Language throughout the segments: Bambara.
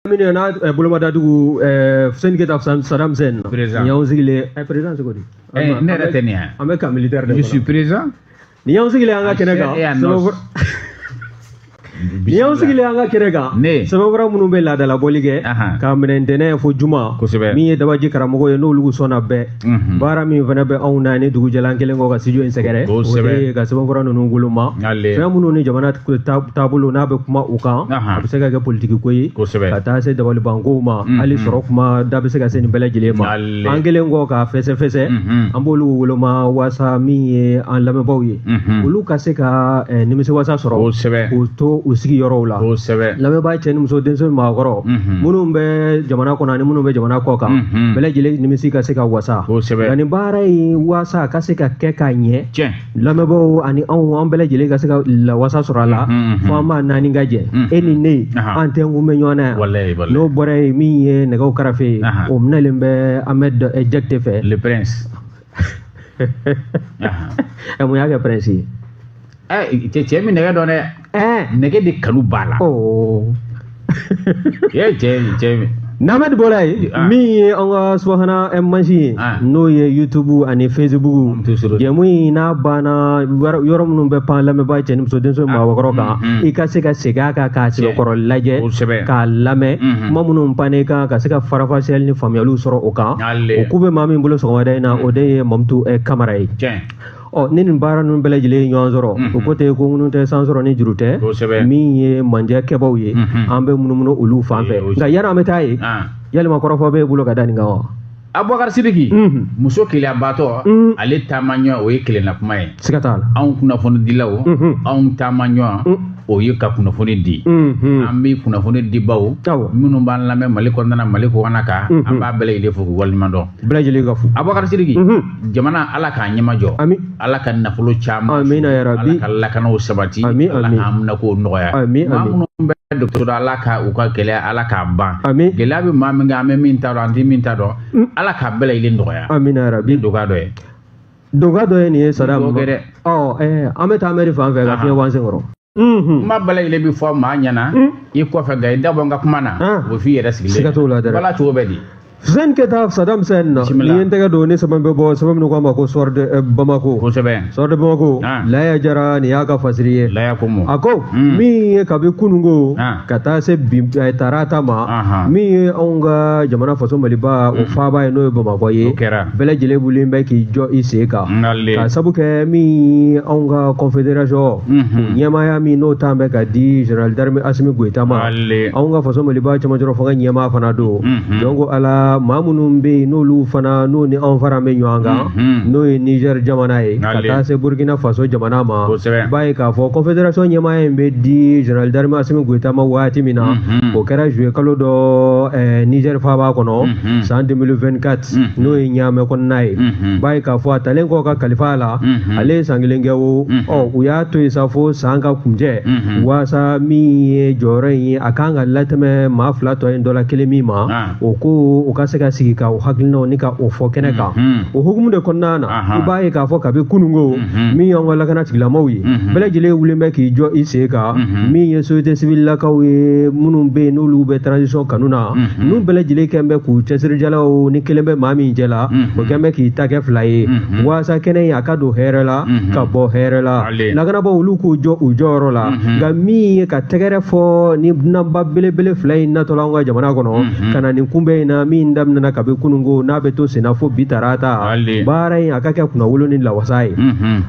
Minnu n'a eh, bolomadadugu eh, Fuseni Keyita Sadam Husɛni na. Président. Nin y'anw sigilen ye. Eh, président cogo di? Eh, ne yɛrɛ tɛ nin ye. An bɛ camp militaire de kɔnɔ. Je suis présent. Nin y'anw sigilen an ka kɛnɛ kan. An sera yan nɔ. Sɛbɛnfura- Nin y'anw sigilen an ka kɛnɛ kan. Ne. Sɛbɛnfura minnu bɛ laadalabɔli kɛ. Ahan. K'a minɛ ntɛnɛn fo juma. Kosɛbɛ. Min ye dabaji karamɔgɔ ye n'olu sɔnna bɛɛ. Mhm. baara min fana bɛ anw na ni dugu jɛla an kɛlen kɔ ka studio in sɛgɛrɛ o de ka sɛbɛnfura ninnu woloma fɛn minnu ni jamana taabolo n'a bɛ kuma u kan a bɛ se ka kɛ politiki ko ye ka taa se dabalibankow ma mhm. hali sɔrɔ kuma da bɛ se ka se nin bɛɛ lajɛlen ma an kɛlen kɔ k'a fɛsɛfɛsɛ mhm. an b'olu woloma waasa min ye an lamɛnbaaw ye olu ka se ka eh, nimisiwasa sɔrɔ o to u sigiyɔrɔw la lamɛnbaa cɛ ni muso denmisɛn maakɔrɔ minnu bɛ jamana kɔnɔ ani minnu bɛ jamana kɔ kan bɛɛ lajɛlen nimisi ka se ka wasa nka nin baara ye waasa ka se ka kɛ ka ɲɛ lamɛnbaaw ani anw an bɛɛ lajɛlen ka se ka lawasa sɔrɔ a la fo an maa naani ka jɛ e ni ne an tenkun bɛ ɲɔgɔn na yan n'o bɔra yen min ye nɛgɛw karafe ye o minɛlen bɛ amɛdi jakite fɛ mun y'a kɛ pɛrɛnsi ye ɛ cɛ cɛ min nɛgɛ dɔn dɛ nɛgɛ de kanu b'a la cɛ cɛ cɛ min n'Amɛdi bɔla yen ah. min ye an ka subahana eh, mansin ye ah. n'o ye YouTube ani Facebook jɛmu in n'a banna yɔrɔ minnu bɛ pan lamɛnbaa cɛ ni muso denmisɛn ni ah. maakɔrɔ kan mm, mm. i ka se ka segin a kan k'a sɛbɛkɔrɔ lajɛ k'a lamɛn mm-hmm. kuma minnu pannen kan ka se ka faranfasiyali ni faamuyaliw sɔrɔ o kan o ku bɛ maa min bolo sɔgɔmada in na o de ye mamutu eh, kamara ye ɔ ni nin baara ninnu bɛɛ lajɛlen ye ɲɔgɔn sɔrɔ o ko tɛ ko ŋunu tɛ san sɔrɔ ni juru tɛ min ye mandiya kɛbaw ye an bɛ munumunu olu fan fɛ nka yanni an bɛ taa yen ah. yalima kɔrɔfɔ b'e bolo ka da nin kan wa abubakar sidiki mhm. muso keleyabaatɔ mhm. ale taama ɲɔgɔn o ye kelenna kuma ye siga t'a la anw kunnafonidilaw mhm. anw taama ɲɔgɔn o ye ka kunnafoni di an bɛ kunnafoni di baw minnu b'an lamɛn mali kɔnɔna mali kɔkan an b'a bɛɛ lajɛlen fo k'u waleɲumandɔn bɛɛ lajɛlen ka fo abubakar sidiki jamana ala k'a ɲɛmajɔ ala ka nafolo caya ala ka lakanaw sabati ka haminakow nɔgɔya minnu bɛ dɔgɔtɔrɔ ala ka u ka gɛlɛya ala k'a ban gɛlɛya bɛ maa min kan an bɛ min ta dɔn an tɛ min ta dɔn ala k'a bɛɛ lajɛlen nɔgɔya min dɔgɔ dɔ ye Duga dɔ ye nin ye sadam dɛ an bɛ taa amɛdi fan fɛ ka fiɲɛ bɔ an senkɔrɔ kuma bɛɛ lajɛlen bɛ fɔ maa ɲɛna ani i kɔfɛ nka i da bɔ n ka kuma na o f' i yɛrɛ sigilen siga t'o la a la cogo bɛ di fuseni keyita sadam husɛni na ne ye n tɛgɛ don ni sɛbɛn bɛ bɔ sɛbɛn min n'u k'a ma ko soir de bamakɔ kosɛbɛ soir de bamakɔ laya jara nin y'a ka fasiri ye a ko min ye kabi kununko ka taa se bi eh, tarata ma Ahan. min ye anw ka jamana faso maliba o faaba ye n'o ye bamakɔ ye O kɛra. bɛɛ lajɛlen wulilen bɛ k'i jɔ i sen kan Nale. ka sabu kɛ min anw ka confédération Mhm. ɲɛmaaya min n'o tan bɛ ka di général d'armée Asimi Goyita ma Ale. anw ka faso maliba cɛmancɛrɔ fanga ɲɛmaa fana don Mhm. donc ala maa minnu bɛ yen n'olu fana n'o ni anw fara bɛ ɲɔgɔn kan Mhm. n'o ye Niger jamana ye ka Ale. taa se Burkina Faso jamana ma Kosɛbɛ. i b'a ye k'a fɔ confédération ɲɛmaaya in bɛ di général d'armée Asimi Goyita ma waati min na Mhm. o kɛra juillet kalo dɔ eh, Niger faaba kɔnɔ Mhm. san 2024 Mhm. n'o ye Ɲaamɛ kɔnɔna ye Mhm. i b'a ye k'a fɔ a talen kɔ ka kalifa a la Mhm. ale ye san kelen kɛ o Mhm. ɔ u y'a to yen sa fo san ka kuncɛ Mhm. waasa min ye jɔyɔrɔ in ye a kan ka latɛmɛ maa fila tɔ in dɔ la kelen min ma Ah. o ko u ka se ka sigi ka o hakilinaw ni ka o fɔ kɛnɛ kan o hukumu de kɔnɔna na i b'a ye k'a fɔ kabi kununko min y'an ka lakana tigilamaw ye bɛɛ lajɛlen wulilen bɛ k'i jɔ i sen kan min ye société civile lakaw ye minnu bɛ yen n'olu bɛ transition kanu na n'u bɛɛ lajɛlen kɛn bɛ k'u cɛsirijalaw ni kelen bɛ maa min cɛ la o kɛn bɛ k'i ta kɛ fila ye waasa kɛnɛ in a ka don hɛrɛ la ka bɔ hɛrɛ la lakanabaaw olu k'u jɔ u jɔyɔrɔ la nka min ye ka tɛgɛrɛ fɔ ni dunanba belebele fila in natɔ la anw ka jamana kɔnɔ ka na nin kunbɛn in na min daminɛna kabi kununko n'a bɛ to senna fo bi tarata baara in a ka kɛ kunnawolo ni lawasa ye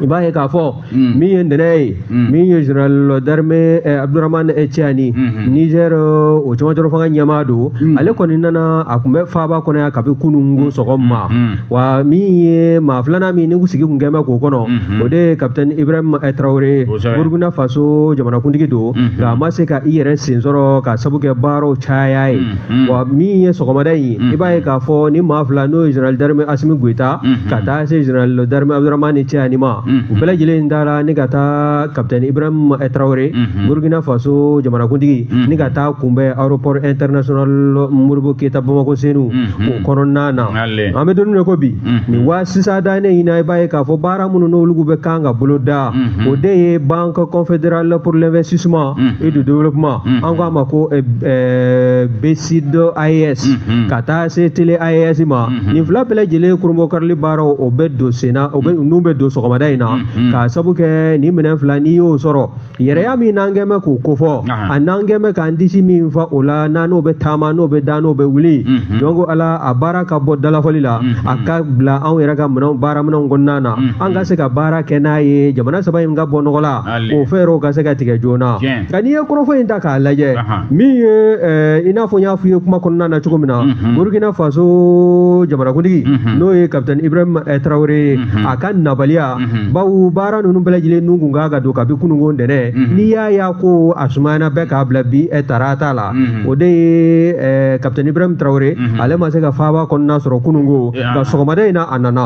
i b'a ye k'a fɔ min ye ntɛnɛn ye min ye général d'armée eh, Abdourahmane Tiani Niger o cɛmancɛrɔ fanga ɲɛmaa don ale kɔni nana a tun bɛ faaba kɔnɔ yan kabi kununko sɔgɔma wa min ye maa filanan min ni sigi kun kɛn bɛ k'o kɔnɔ o de ye capitaine Ibrahim Traoré Burukina Faso jamanakuntigi don nka a ma se ka i yɛrɛ sen sɔrɔ ka sabu kɛ baaraw caya ye wa min ye sɔgɔmada in ye i b'a ye k'a fɔ ni maa fila n'o ye Général d'armée Asimi Goyita ka taa se Général d'armée Abdourahmane Tiani ma u bɛɛ lajɛlen taara ni ka taa Capitaine Ibrahim Traoré Burukina Faso jamanakuntigi ni ka taa kunbɛn aéroport international Modibo Keyita Bamakɔ Senu o kɔnɔna na an bɛ don min na i ko bi nin wa sisan dan ne ɲinan i b'a ye k'a fɔ baara minnu n'olu bɛ kan ka bolo da o de ye banque confédérale pour l'investissement et le développement an k'a ma ko BCID AES ka taa se télé AES ma nin fila bɛɛ lajɛlen kurunbonkarili baaraw o bɛ don sen na ninnu bɛ don sɔgɔmada in na k'a sabu kɛ nin minɛn fila n'i y'o sɔrɔ yɛrɛya min n'an kɛn bɛ k'o kofɔ a n'an kɛn bɛ k'an disi min fa o la n'an n'o bɛ taama n'o bɛ da n'o bɛ wuli donc ala a baara ka bɔ dalafɔli la a ka bila anw yɛrɛ ka minɛnw baara minɛnw kɔnɔna na an ka se ka baara kɛ n'a ye jamana saba in ka bɔ nɔgɔ la o fɛɛrɛw ka se ka tigɛ joona nka n'i ye kɔrɔfɔ in ta k'a lajɛ min ye i n'a fɔ n y'a f'i ye kuma kɔnɔna na cogo min na Burukina Faso jamanakuntigi n'o ye capitaine Ibrahim Traoré ye a ka nabaliya Mhm. bawo baara ninnu bɛɛ lajɛlen nun kun kan ka don kabi kununko ntɛnɛn mhm. n'i y'a ye ko a sumayana bɛɛ k'a bila bi eh, tarata la mhm. o de ye eh, kapitɛni ibrahim tarawele ale ma se ka faaba kɔnɔna sɔrɔ kununko eh, nka ah. sɔgɔmada in na a nana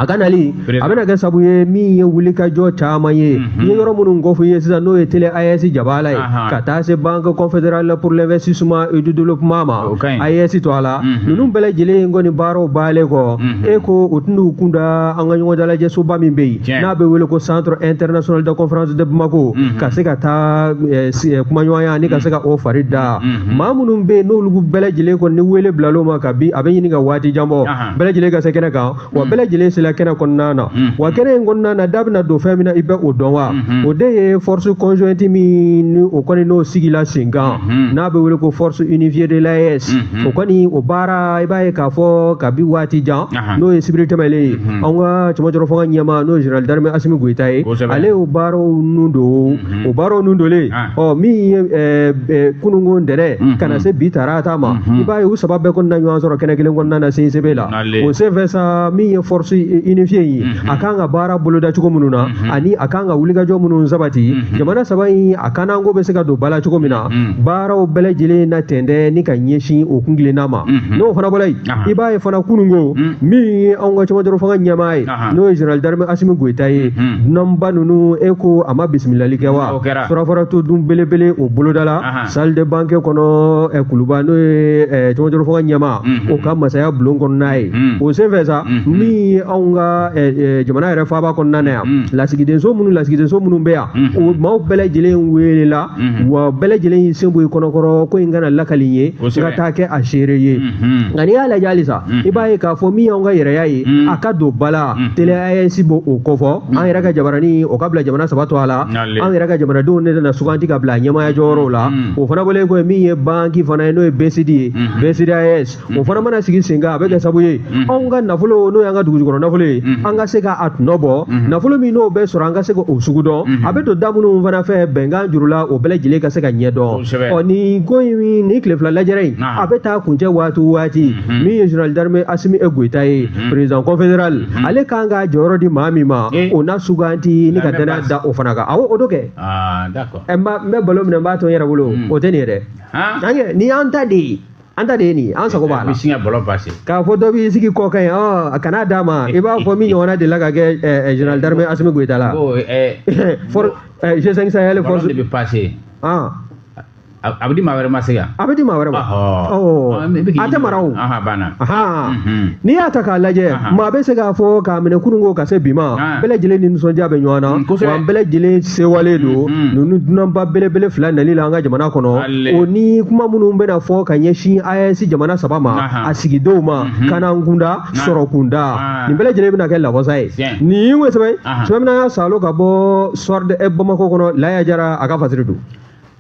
a ka nali a bɛna kɛ sabu ye min ye wulikajɔ caman ye n ye yɔrɔ minnu kofɔ i ye sisan n'o ye tele AES jabala ye ka taa se banque confédérale pour l'investissement et du développement ma AES tɔgɔ la ninnu bɛɛ lajɛlen kɔni baaraw banlen kɔ e ko u tɛn'u kun da an ka ɲɔgɔn dalajɛ soba min bɛ yen n'a bɛ wele ko centre international de conférence de Bamako mhm. ka se ka taa eh, eh, kumaɲɔgɔnya ani ka se ka o mhm. fari da mhm. maa minnu bɛ yen n'olu bɛɛ lajɛlen kɔni ni wele bilal'o ma kabi a bɛ ɲini ka waati jan bɔ bɛɛ lajɛlen ka se kɛnɛ kan wa bɛɛ lajɛlen sera kɛnɛ kɔnɔna na wa kɛnɛ in kɔnɔna na da bɛna don fɛn min na i bɛ o dɔn wa o de ye force conjointe min ni o kɔni n'o sigila sen kan n'a bɛ wele ko force unifiée de l'AES o kɔni o baara i b'a ye k'a fɔ kabi waati jan n'o ye sibiri tɛmɛnlen ye an ka cɛmancɛrɔ fanga ɲɛmaa n'o ye général d'armée Asimi Goyita ye ale y'o baaraw nun don o baaraw nun donlen ɔ min ye kununko ntɛnɛn ka na se bi tarata ma i b'a ye u saba bɛɛ kɔni na ɲɔgɔn sɔrɔ kɛnɛ kelen kɔnɔna na CICB la o senfɛ sa min ye force unifiée in ye a kan ka baara boloda cogo minnu na ani a kan ka wulikajɔ minnu sabati jamana saba in a kananko bɛ se ka don ba la cogo min na baaraw bɛɛ lajɛlen na tɛntɛn ni ka ɲɛsin o kuntilenna ma n'o fana bɔra yen i b'a ye fana kununko hmm. min ye anw ka cɛmancɛrɔ fanga ɲɛmaa ye n'o ye général d'armée asimi goyita ye hmm. dunanba ninnu e ko a ma bisimilali kɛ wa surafana to dun belebele o bolodala salle de banquet kɔnɔ eh, kuluba n'o ye eh, cɛmancɛrɔ fanga ɲɛmaa hmm. o ka masaya bulon kɔnɔna ye o senfɛ sa min ye anw ka eh, jamana yɛrɛ faaba kɔnɔna na yan lasigidenso minnu lasigidenso minnu bɛ yan o maaw bɛɛ lajɛlen welela Mhm. wa bɛɛ lajɛlen y'i sen bɔ i kɔnɔkɔrɔ ko in kana lakali n ye n ka taa kɛ a seere ye mhm. nka n'i y'a lajɛ halisa mhm. i b'a ye k'a fɔ min y'anw ka yɛrɛya ye a ka don ba la tele AES b'o o kofɔ an yɛrɛ ka jabarani o ka bila jamana saba tɔgɔ la an yɛrɛ ka jamanadenw ne nana suganti ka bila ɲɛmaaya jɔyɔrɔw la o fana bɔlen kɔ min ye banki fana ye n'o ye BCID ye BCID AES o fana mana sigi sen kan a bɛ kɛ sabu ye anw ka nafolo n'o y'an ka dugujukɔrɔ nafolo ye an ka se k'a tɔnɔ bɔ nafolo min n'o bɛ sɔrɔ an ka se ka o sugu dɔn a bɛ don da minnu fana fɛ bɛnkan jurula o bɛɛ lajɛlen ka se ka ɲɛ dɔn ɔ nin ko in nin tile fila lajɛrɛ in a bɛ taa kuncɛ waati o waati min ye général d'armée Asimi e Goyita ye président confédéral ale kan ka jɔyɔrɔ di maa min ma o na suganti ni ka danaya da o fana kan awɔ o don kɛ ɛ n bɛ balo minɛ n b'a to n yɛrɛ bolo o tɛ nin ye dɛ nin y'an ta de ye an ta de ye nin ye an sago b'a la siɲɛ bɔlɔ basi k'a fɔ dɔ b'i sigi kɔkan yen a kana d'a ma i b'a fɔ min ɲɔgɔnna delila ka kɛ général d'armée asimi goyita la g5 sahel force de bɛ passer a bɛ di maa wɛrɛ ma se yan a bɛ di maa wɛrɛ ma a tɛ mara o n'i y'a ta k'a lajɛ maa bɛ se k'a fɔ k'a minɛ kunun ko ka se bi ma bɛɛ lajɛlen ni nisɔndiya bɛ ɲɔgɔn na wa an bɛɛ lajɛlen sewalen don ninnu dunanba belebele fila nali la an ka jamana kɔnɔ o ni kuma minnu bɛna fɔ ka ɲɛsin AES jamana saba ma a sigidenw ma mhm. lakana kunda sɔrɔ kunda ah. nin bɛɛ lajɛlen bɛna kɛ lawasa ye nin ye sɛbɛn sɛbɛn ye n'an y'a salo ka bɔ soir de bamakɔ kɔnɔ laya jara a ka fasiri don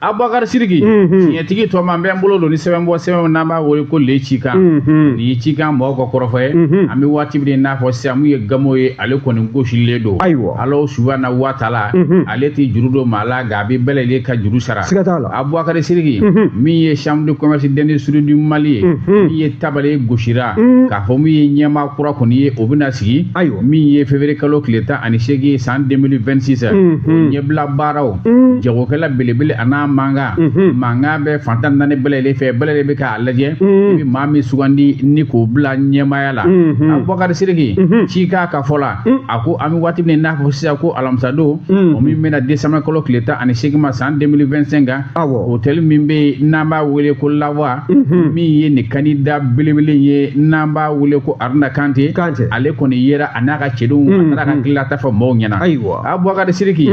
abubakar siriki mhm. tiɲɛtigi tɔgɔma n bɛ n bolo don ni sɛbɛn bɔ sɛbɛn n'an b'a wele ko le cikan mhm. nin ye cikan mɔgɔw ka kɔrɔfɔ ye mhm. an bɛ waati min n'a fɔ sisan min ye gamo ye ale kɔni gosilen don ayiwa ala subahana wa taala ale tɛ juru don maa la nka a bɛ bɛɛ lajɛlen ka juru sara siga t'a la abubakari siriki min ye chambre de commerce d'industrie du mali ye min ye tabale ye gosira k'a fɔ min ye ɲɛmaa kura kɔni ye o bɛna sigi ayiwa min ye février kalo tile tan ani seegin san 2026 o ɲɛbila baaraw jagokɛla belebele a n'a mankan mankan bɛ fan tan naani bɛɛ lajɛlen fɛ bɛɛ lajɛlen bɛ k'a lajɛ i bɛ maa min sugandi ni k'o bila ɲɛmaaya la abubakari siriki cikan ka fɔ la a ko an bɛ waati min n'a fɔ sisan ko alamisadon o min bɛnna décembre kalo tile tan ani seegin ma san 2025 kan hotɛli min bɛ yen n'an b'a wele ko lawa min ye nin kandida belebele ye n'an b'a wele ko aruna kante ale kɔni yera a n'a ka cɛdenw a taara ka tilata fɔ mɔgɔw ɲɛna ayiwa abubakari siriki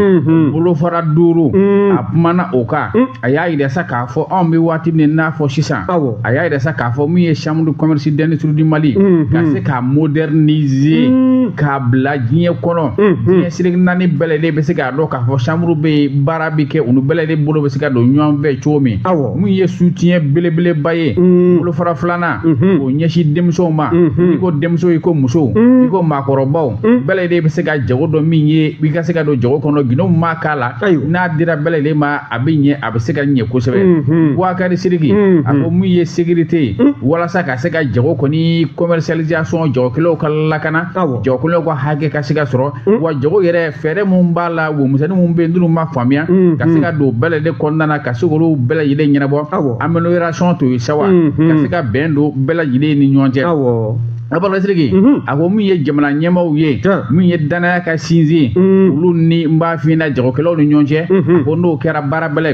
bolofara duuru a kumana o kan a y'a yira sa k'a fɔ anw bɛ waati min n'a fɔ sisan a y'a yira sa k'a fɔ min ye chambre commerce d'industrie du Mali mm-hmm. ka se k'a moderniser mm-hmm. k'a bila diɲɛ kɔnɔ mm-hmm. diɲɛ seleke naani bɛɛ lajɛlen bɛ se k'a dɔn k'a fɔ chambre bɛ yen baara bɛ kɛ olu bɛɛ lajɛlen bolo bɛ se ka don ɲɔgɔn fɛ cogo min min ye soutien belebeleba ye bolofara filanan k'o ɲɛsin denmisɛnw ma i ko denmisɛnw i ko musow i ko maakɔrɔbaw bɛɛ lajɛlen bɛ se ka jago dɔn min ye i ka se ka don jago kɔnɔ gindo ma k'a la n'a dira bɛɛ lajɛlen ma a bɛ ɲɛ a bɛ se ka ɲɛ kosɛbɛ mhm. bubakari siriki mhm. a ko min ye sécurité ye mhm. walasa ka se ka jago kɔni commercialisation jagokɛlaw ka lakana jagokɛlaw ka hakɛ ka se ka sɔrɔ wa jago yɛrɛ fɛɛrɛ minnu b'a la wo misɛnnin minnu bɛ yen n'olu ma faamuya ka se ka don bɛɛ lajɛlen kɔnɔna na ka se k'olu bɛɛ lajɛlen ɲɛnabɔ amélioration to ye sawa ka se ka bɛn don bɛɛ lajɛlen ni ɲɔgɔn cɛ Abubakar Sidiki a ko min ye jamana ɲɛmaaw ye min ye danaya ka sinsin olu ni n b'a f'i ɲɛna jagokɛlaw ni ɲɔgɔn cɛ ko n'o kɛra baara bɛɛ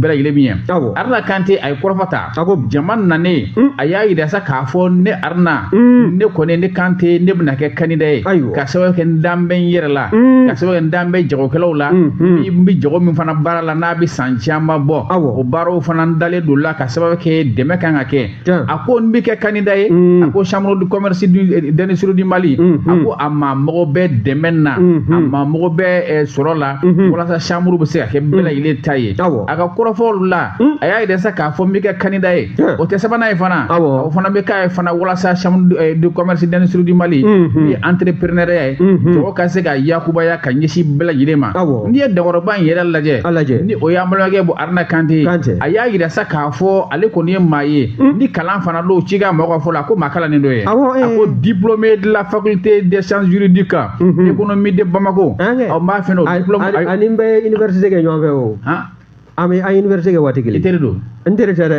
lajɛlen min ye Aruna Kante a ye kɔrɔfɔ ta jama nanen a y'a yira sa k'a fɔ ne Aruna ne kɔni ne Kante ne bɛna kɛ candidat ye ka sababu kɛ n dan bɛ n yɛrɛ la ka sababu kɛ n dan bɛ jagokɛlaw la n bɛ jago min fana baara la n'a bɛ san caman bɔ o baaraw fana n dalen don la ka sababu kɛ dɛmɛ kan ka kɛ a ko n bɛ kɛ candidat ye a ko chambre de commerce d'industrie du Mali a ko a ma mɔgɔ bɛ dɛmɛ na a ma mɔgɔ bɛ sɔrɔ la walasa chambre bɛ se ka kɛ bɛɛ lajɛlen ta ye a ka kɔrɔfɔw la a y'a yira sa k'a fɔ n bɛ kɛ candidat ye o tɛ sabanan ye fana o fana bɛ k'a ye fana walasa chambre de commerce d'industrie du Mali ni entrepreneuriat ye jago ka se ka yakubaya ka ɲɛsin bɛɛ lajɛlen ma n'i ye dakɔrɔba in yɛrɛ lajɛ ni o y'an balimakɛ Haruna Kante, a y'a yira sa k'a fɔ ale kɔni ye maa ye hmm? ni kalan fana don Cika mɔgɔ ka fɔ la ko maa kalannen dɔ ye awɔ, a ko diplômé de la faculté des sciences juridiques mm -hmm. économie de Bamako ɔ n b'a fɛ n'o diplôme ani n bɛ université kɛ ɲɔgɔn fɛ o an bɛ an université kɛ waati kelen i teri don n teri tɛ dɛ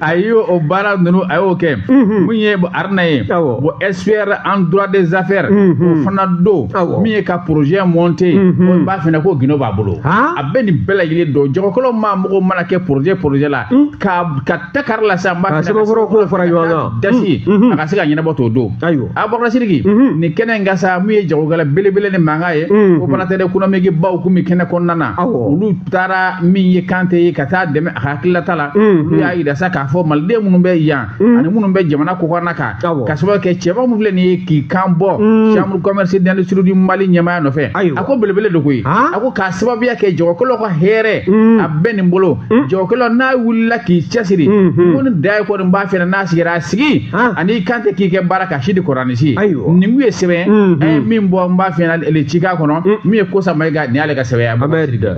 a y' o baara ninnu a y'o kɛ min ye Aruna ye bon expert en droit des affaires o fana don min ye ka projet monté ye n b'a f'i ɲɛna ko gindo b'a bolo a bɛ nin bɛɛ lajɛlen don jagokɛlaw ma mɔgɔw mana kɛ projet projet la ka ka ta kari la sa fara ɲɔgɔn da a ka se ka ɲɛnabɔ t'o don ayiwa Abubakar Sidiki nin kɛnɛ in kan sa min ye jagokɛla belebele ni mankan ye opérateur économique baw tun bɛ kɛnɛ kɔnɔna na olu taara min ye Kante ye ka taa dɛmɛ hakililata la olu y'a yira sa k'a fɔ maliden minnu bɛ yan ani minnu bɛ jamana kɔkɔrɔna kan ka sababu kɛ cɛba min filɛ nin ye k'i kan bɔ chambre commerce d'industrie du mali ɲɛmaya nɔfɛ a ko belebele de koyi a ko k'a sababuya kɛ jagokɛlaw ka hɛrɛ a bɛ nin bolo jagokɛlaw n'a wulila k'i cɛsiri ko ni da ye kɔni b'a fɛ n'a sigira a sigi ani Kante k'i kɛ baara ka si di kɔrɔnisi nin kun ye sɛbɛn an ye min bɔ n b'a fɛ Cika kɔnɔ min ye Kosa Mayiga nin y'ale ka sɛbɛn ye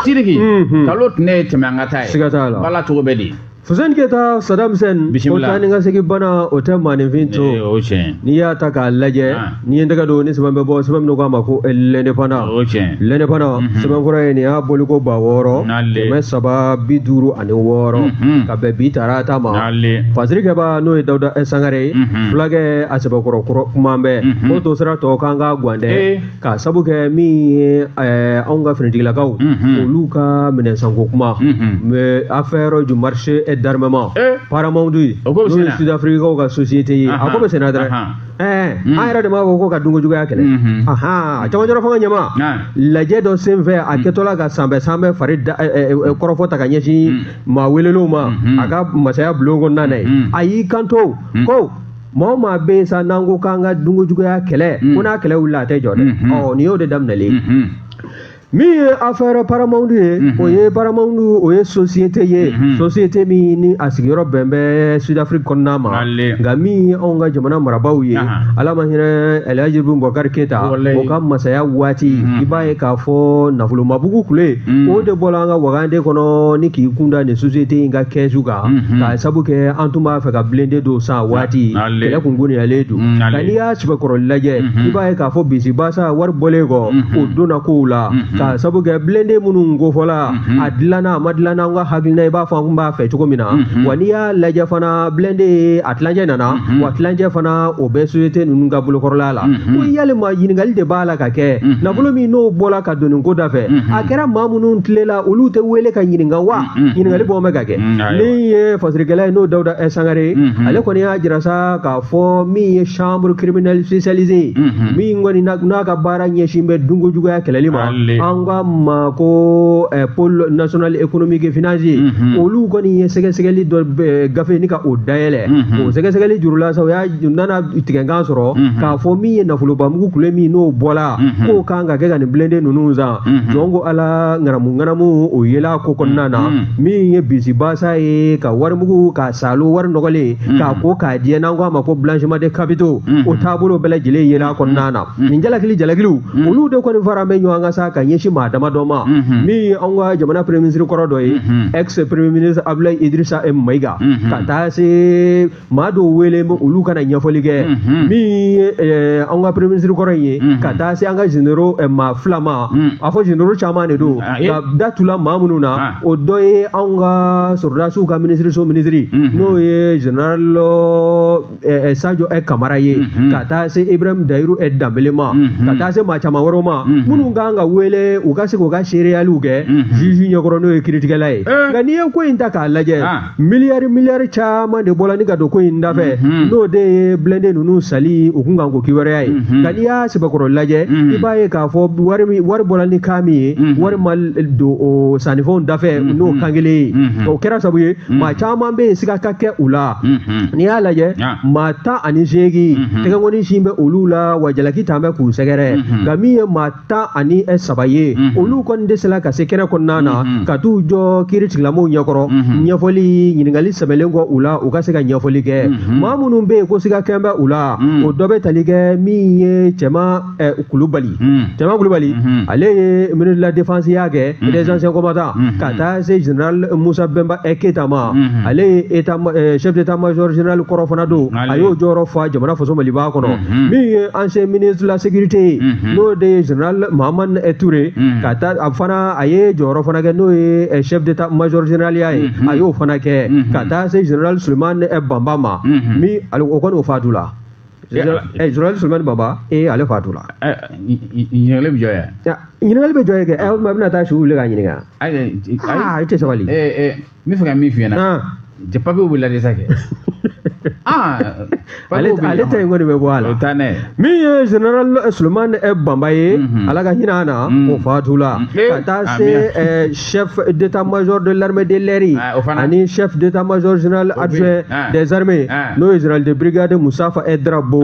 Sidiki unhun kalo tun ye tɛmɛ an ka taa ye siga t'a la bala cogo bɛ di Fuseni Keyita Sadam Husɛni o Bisimila. taa ni ka segin bana o tɛ maaninfin to Ee, o tiɲɛ n'i y'a ta k'a lajɛ Ah. n'i ye tɛgɛ don ni sɛbɛn bɛ bɔ sɛbɛn min k'a ma ko eh, l'indépendant o tiɲɛ l'indépendant Mhm. sɛbɛnfura ye nin y'a boliko ba wɔɔrɔ Nale. kɛmɛ saba bi duuru ani wɔɔrɔ Mhm. ka bɛn bi tarata ma n'ale fasirikɛba n'o ye Dawuda eh, Sangare ye Mhm. fulakɛ a sɛbɛkɔrɔ kɔrɔ kuman bɛ Mhm. k'o to sira tɔ k'an ka gwandɛ Ee. k'a sabu kɛ min ye eh, anw ka finitigilakaw mhm. olu ka minɛnsanko kuma mhm. mais affaire du marché et d'armement eh. paramount n'o ye Sud Afrique kaw ka société ye a ko bɛ senna dɛrɛ Eh, hmm. an yɛrɛ de b'a fɔ ko ka dunko juguya kɛlɛ hmm, hmm. a cɛmancɛrɔ fanga ɲɛmaa lajɛ dɔ sen fɛ a kɛtɔla ka sanbɛ sanbɛ fari eh, eh, kɔrɔfɔ ta ka ɲɛsin maa welelenw ma a ka masaya bulon kɔnɔna na yen a y'i kanto ko maa o maa bɛ yen sa n'an ko k'an ka dunkojuguya kɛlɛ ko n'a kɛlɛ wulila a tɛ jɔ dɛ ɔ nin y'o de daminɛlen ye min ye affaire paramount ye o ye paramount o ye société ye société min ni a sigiyɔrɔ bɛn bɛ sud afrique kɔnɔna ma nka min ye anw ka jamana marabaaw ye ala ma hinɛ elhaji ibrahim bubakari keyita o ka masaya waati i b'a ye k'a fɔ nafolobamugu kule o de bɔra an ka wagande kɔnɔ ni k'i kunda nin société in ka kɛsu kan k'a sabu kɛ an tun b'a fɛ ka blindé dɔ san waati kɛlɛ kun goniyalen don nka n'i y'a sɛbɛkɔrɔ lajɛ i b'a ye k'a fɔ bisibasa wari bɔlen kɔ o donna kow la k'a sabu kɛ blindé minnu kofɔla a dilanna a ma dilanna an ka hakilina i b'a fɔ an kun b'a fɛ cogo min na wa n'i y'a lajɛ fana blindé ye a tilancɛ nana wa tilancɛ fana o bɛ société ninnu ka bolokɔrɔla la ko yalima ɲininkali de b'a la ka kɛ nafolo min n'o bɔla ka don nin ko da fɛ a kɛra maa minnu tilela olu tɛ wele ka ɲininka wa ɲininkali bɔ bɛ ka kɛ min ye fasirikɛla ye n'o dawuda eh, sangare ye ale kɔni y'a jira sa k'a fɔ min ye chambre criminelle spécialisée ye min kɔni n'a ka baara ɲɛsin bɛ dunko juguya kɛlɛli ma an k'a ma ko eh, pôle national économique et financier olu kɔni ye sɛgɛsɛgɛli dɔ eh, gafe ni ka o dayɛlɛ o sɛgɛsɛgɛli jurula sa o y'a nana tigɛkan sɔrɔ k'a fɔ min ye nafolobamugu kule min n'o bɔla k'o kan ka kɛ ka nin blindé ninnu san Mhm. jɔn ko ala ŋanamu ŋanamu o yela ko kɔnɔna na mhm. min ye bisibasa ye ka warimugu ka salo wari nɔgɔlen mhm. k'a ko k'a jɛ n'an ko a ma ko blanchiment de capitaux o taabolo bɛɛ lajɛlen yela kɔnɔna na nin jalakili jalakiliw olu de kɔni fara bɛ ɲɔgɔn kan sa ka ɲɛsin maa dama dɔ ma min ye anw ka jamana premier ministre kɔrɔ dɔ ye ex premier ministre abdulayi idrissa mayiga ka taa se maa dɔw wele olu ka na ɲɛfɔli kɛ mhm. min ye eh, an ka premier ministre kɔrɔ in ye mhm. ka taa se an ka généraux eh, maa fila ma mhm. a fɔ généraux caman de don ah, ka da tula maa minnu na ah. o dɔ ye anw ka sɔrɔdasiw ka minisiriso minisiri n'o ye général eh, sajo kamara ye ka taa se ibrahim dayiru danbele ma ka taa se maa caman wɛrɛw ma minnu kan ka wele u ka se k'u ka seereyaliw kɛ juge ɲɛkɔrɔ n'o ye kiiritigɛla ye nka n'i ye ko in ta k'a lajɛ ah. miliyari miliyari caman de bɔla ni ka don ko in dafɛ mhm. n'o de ye blindé ninnu sanni u kun kan ko kiwɛrɛya ye mhm. nka n'i y'a sɛbɛkɔrɔ lajɛ mhm. i b'a ye k'a fɔ wari bɔla nka min ye wari ma don o sannifɛnw dafɛ n'o kan kelen ye o kɛra sabu ye maa caman bɛ yen siga ka kɛ u la n'i y'a lajɛ maa tan ani seegin tɛgɛnkɔni sin bɛ olu la wa jalaki tan bɛ k'u sɛgɛrɛ nka min ye maa tan ani e saba ye olu kɔni dɛsɛla ka se kɛnɛ kɔnɔna na ka t'u jɔ kiiri tigilamɔgɔw ɲɛkɔrɔ ɲɛfɔli ɲininkali sɛbɛlen kɔ u la u ka se ka ɲɛfɔli kɛ maa minnu bɛ yen ko siga kɛn bɛ u la o dɔ bɛ tali kɛ min ye cɛma kulubali cɛma kulubali ale ye ministre de la défense ya kɛ des anciens combattants ka taa se general musa bɛnba ɛ keyita ma ale ye chef d'état major general kɔrɔ fana don a y'o jɔyɔrɔ fa jamana faso maliba kɔnɔ min ye ancien ministre de la sécurité ye Hmm. n'o de ye general mahamani eh, ture hmm. ka taa a fana a ye jɔyɔrɔ fana kɛ n'o ye eh, chef d'état major generaliya ye hmm, a y'o fana kɛ ka taa se general suleman eh, banba ma min o kɔni o fatu la general suleman banba ee ale fatu la ɲininkali bɛ jɔ yan ɲininkali bɛ jɔ yen kɛ a bɛna taa su wuli ka ɲininka i tɛ sabali n b'a fɛ ka min f'i ɲɛna jɛ papiyew bɛ lajɛ sa kɛ ale ta in kɔni bɛ bɔ a la min ye general suleman banba ye ala ka hinɛ a na o fatu la ka taa se chef d'état major de l'armée de l'air ani chef d'état major général adjoint des armées n'o ye général de brigade mustafa e drabo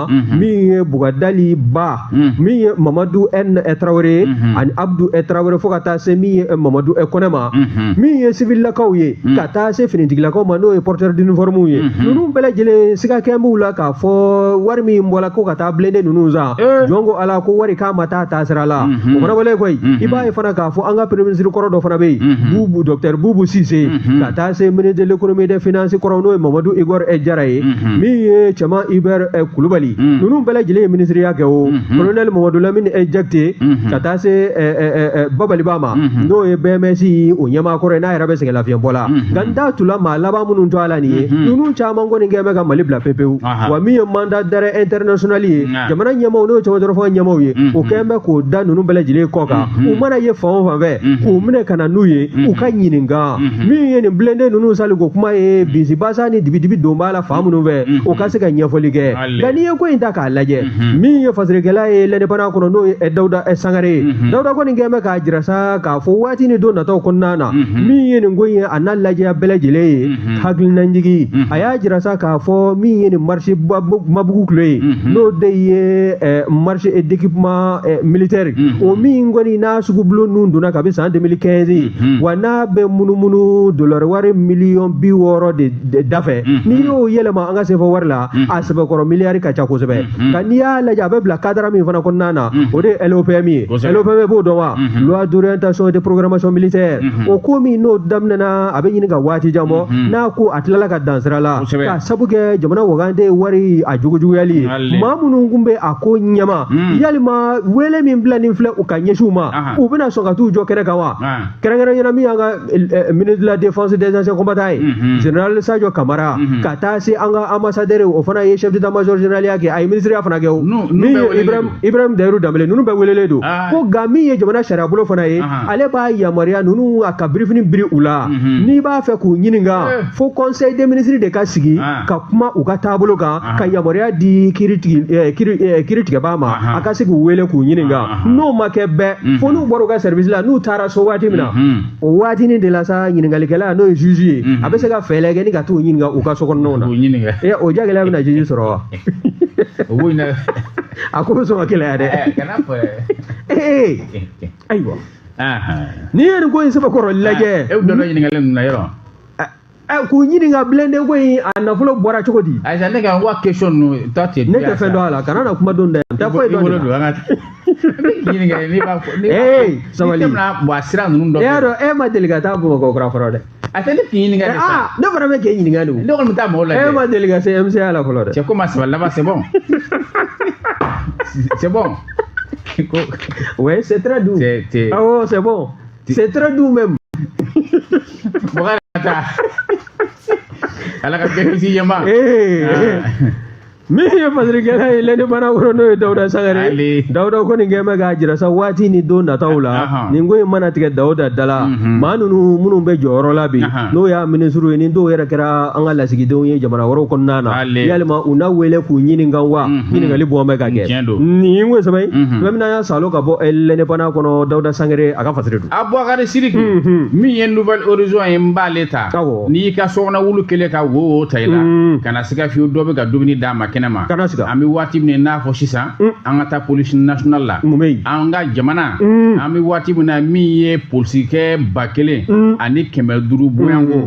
mhm. min ye bugadali ba mhm. min ye mamadu n tarawele mhm. ani abdu tarawele fo ka taa se min ye mamadu kɔnɛ ma min ye sivilakaw ye ka taa se finitigilakaw ma n'o ye porteur d'uniforme ye ninnu bɛɛ lajɛlen siga kɛn b'u la k'a fɔ wari min bɔla ko ka taa blende ninnu san eh. jɔn ko ala ko wari k'a ma taa taasira la o fana wale koyi i b'a ye fana k'a fɔ an ka premier ministre kɔrɔ dɔ fana bɛ yen bubu docteur bubu sise ka taa se ministre de l'économie des finances kɔrɔ n'o ye mamadu igor e jara ye min ye cɛman hubert kulubali ninnu bɛɛ lajɛlen ye minisiriya kɛ o colonel mamadu lamini e jakite ka taa se babali ba ma n'o ye BMS o ɲɛmaa kɔrɔ ye n'a yɛrɛ bɛ sɛgɛn lafiɲɛbɔ la nka n da tula maa laban minnu tɔɔ la nin ye ninnu caman kɔni kɛn bɛ ka mali bila pepewu wa min ye mandat d'arrêt international ye ah. jamana ɲɛmaaw n'o ye cɛbɔtɔrɔfɔ ɲɛmaaw ye mm-hmm. o kɛlen bɛ k'o da ninnu bɛɛ lajɛlen kɔ kan mm-hmm. u mana ye fan o fan fɛ mm-hmm. k'u minɛ ka na n'u ye u ka ɲininka min ye nin blende ninnu sanli ko kuma ye bisibasa ni dibidibi don b'a la fan minnu fɛ o ka se ka ɲɛfɔli kɛ nka n'i ye ko in ta k'a lajɛ min ye fasirikɛla ye l'indépendant kɔnɔ n'o ye dawuda sangare ye dawuda kɔni kɛlen bɛ k'a jira sa k'a fɔ waati ni don nataw kɔnɔna na min ye nin ko in ye a n'a lajɛya bɛɛ lajɛlen ye Hmm. hakilinajigi hmm. a y'a jira sa k'a fɔ min ye nin marché mabugu tulo ye hmm. n'o de ye eh, marché eh, d'équipement eh, militaire o min kɔni n'a sugubulon ninnu donna kabi san 2015 wa n'a bɛ munumunu dolari wari miliyɔn bi wɔɔrɔ de dafɛ n'i y'o yɛlɛma an ka sefa wari la a sɛbɛkɔrɔ miliyari ka ca kosɛbɛ nka n'i y'a lajɛ a bɛ bila cadre min fana kɔnɔna na o de ye LOPM ye LOPM b'o dɔn wa loi d'orientation de programmation militaire o ko min n'o daminɛna a bɛ ɲini ka waati jan bɔ n'a ko a tilala ka dan sira la k'a sabu kɛ jamana wagande wari a jugujuguyali ye maa minnu tun bɛ a ko ɲɛma yalima wele min bila nin filɛ u ka ɲɛsiw ma u bɛna sɔn ka t'u jɔ kɛnɛ kan wa kɛrɛnkɛrɛnya la min y'an ka ministre de la défense des anciens combattants ye général Sadio Kamara ka taa se an ka ambassadeur o fana ye chef d'état major général ya kɛ a ye ministriya fana kɛ o min ye Ibrahim Dahiru Danbele ninnu bɛɛ welelen don ko nka min ye jamana sariyabolo fana ye ale b'a yamaruya ninnu a ka birifini biri u la mhm. n'i b'a fɛ k'u ɲininka eh. fo conseil des ministres de ka sigi ah. ka kuma u ka taabolo kan ah. ka yamaruya di kiri eh, eh, tigɛbaa ma ah, a ka se k'u wele k'u ɲininka n'o ma kɛ bɛɛ mhm. fo n'u bɔra u ka service la n'u taara so waati min na mhm. o waatinin de la sa ɲininkalikɛla n'o ye juge ye a bɛ se ka fɛɛrɛ kɛ ni ka t'u ɲininka u ka sokɔnɔnaw na o jagɛlɛya bɛna juge sɔrɔ wa a ko bɛ sɔn ka gɛlɛya dɛ ayiwa n'i ye nin ko in sɛbɛkɔrɔ lajɛ e bɛ dɔ ɲininkali ninnu na yɔrɔ k'u ɲininka bilen de ko in a nafolo bɔra cogo di ayisa ne ka wa question ninnu ta tɛ ne tɛ fɛn dɔn a la kana na kuma don da yan n tɛ foyi dɔn de la ɲininkali n'i b'a fɔ sabali sabili tɛmɛna bɔn a sira ninnu dɔ e y'a dɔn e ma deli ka taa bamakɔ kura fɔlɔ dɛ a tɛ ne k'i ɲininka de sa ne fana bɛ k'e ɲininka de o ne kɔni bɛ taa mɔgɔw lajɛ e ma deli ka se MCA la fɔlɔ dɛ cɛ ko ma saba laban c'est bon c'est bon ko ouais c'est très doux c'est c'est ah oh c'est bon c'est très doux même mɔgɔ yɛrɛ ka taa ala ka bɛɛ kisi yen ma ee min ye fasirikɛla ye l'indépendant kɔrɔ n'o ye dawuda sangare ye dawuda kɔni kɛ bɛ k'a jira sa waati ni don nataw la nin ko in mana tigɛ dawuda da la maa ninnu minnu bɛ jɔyɔrɔ la bi n'o y'a minisiriw ye ni dɔw yɛrɛ kɛra an ka lasigidenw ye jamana wɛrɛw kɔnɔna na yalima u na wele k'u ɲininka wa ɲininkali bɔn bɛ ka kɛ nin ye n ko sɛbɛn fɛn min y'a salo ka bɔ l'indépendant kɔnɔ dawuda sangare a ka fasiri don abubakari sidiki min ye nouvel horizon ye n b'ale ta n'i y'i ka sokɔnɔ wulu kelen ka wo ta i la siga fiyewu dɔ bɛ ka dumuni d'a ma kɛnɛ ma kana siga an bɛ waati min n'a fɔ sisan an ka taa police nationale la mun bɛ yen an ka jamana an bɛ waati min na min ye polisikɛ ba kelen ani kɛmɛ duuru bɔɲɔnko